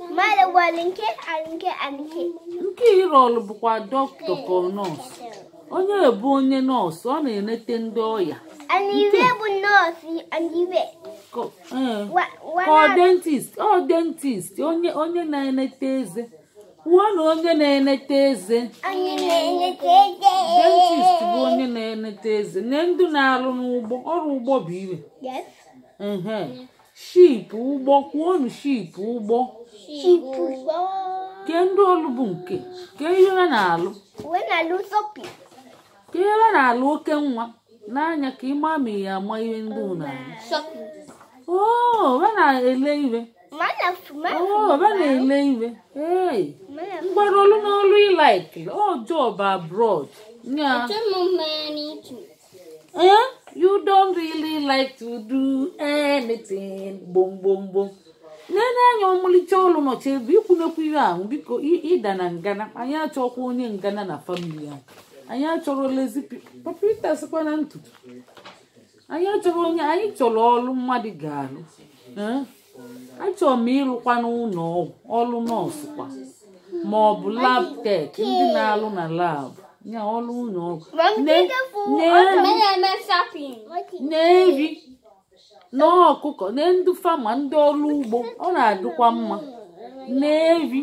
Mmadụ gwara nke alike alike. nke ị rọlụ bụkwa dọkịta ka ọ nọọsụ onye bụ onye nọọsụ ọ na-enete ndị ọya Ana iwe bụ nọọsụ ana iwe. Ko- ee. Wa wa ka ọ na dentist ọ dentist onye onye na-enete eze kwuonụ onye na-enete eze onye na-enete eze. dentist bụ onye na-enete eze na ndị na-arụ n'ụgbọ ọrụ ụgbọ bụ iwe Yes. ehe ship ụgbọ kwuonụ ship ụgbọ kee ndị ọlụ bụ nke kee ihe ha na-alụ kee ihe ha na-alụ oke nwa n'anya ka ị ma ma ị ya-ama ihe ndị ụ na-alụ oo ha na-ele ihe oo ha na-ele ihe ee mgbara ọlụ n'ọlụ ị laik ọ job abroad nya Eh? You don't really like to do anything. Boom, boom, boom. Nene anya ọmụlịcha ọlụ nọcha ebe ị kwụ na-ekwu ihe ahụ biko ị- ịda na ngana anyị achọkwa onye ngana na famili a anyị achọrọ lezi papa ịtasịkwa na ntutu anyị achọrọ onye anyị chọrọ ọlụ mmadụ ga-alụ Eh? achọrọ m ịlụkwa n'ụlọ ọgwụ ọlụ nọọsụ kwa ma ọ bụ lab tek ndị na-alụ na lab ya ọlụ ụlọ ọgwụ Ne- ne- na-eri na ọkụkọ na ndị fama ndị ọrụ ugbo ọ na-adịkwa mma na-eri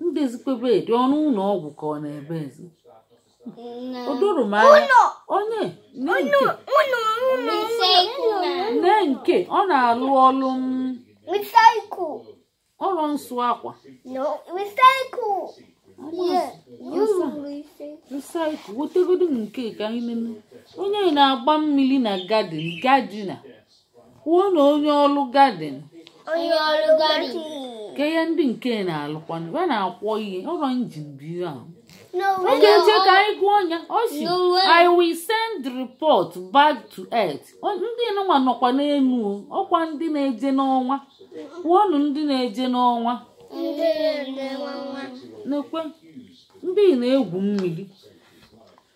mbezikwebe dị ọnụ ụlọ ọgwụ ka ọ na-ebe ezi o doro m anya onye nne nke nne nke ọ na-alụ ọlụ m Recycle. ọrụ nsụ akwa No, recycle. Yeah, you recycle. resaịkụ wetegodu m nke ka anyị nene onye na-agba mmiri na gadin gadina kwuonụ onye ọrụ gadin onye ọrụ gadin kee ihe ndị nke na-alụkwanụ ya na-akwọ ihe ọrụ injin bụ ihe ahụ n'onwe oge eje ka anyị gụọ nya ọ sị No way. i will send the report back to earth O- ndị nụwa nọkwa n'elu o, ọ kwa ndị na-eje n'ọnwa kwuonụ ndị na-eje n'ọnwa ndị na-eje n'ọnwa nekwe ndị na-egwu mmiri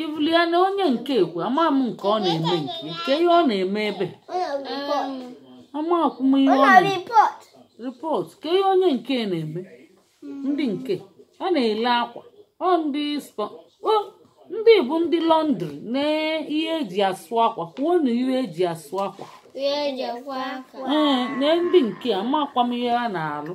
ibulie na onye nke ekwe ama m nke ọ na-eme nke nke ihe ọ na-eme ebe amakwa m ihe ọ na-eme ripọt kee ihe onye nke a na-eme ndị nke a na-ele akwa ọ ndị spọ o ndị bụ ndị lọndri na ihe eji asụ akwa kwuonụ ihe eji asụ akwa ee na ndị nke amakwa m ihe ha na-alụ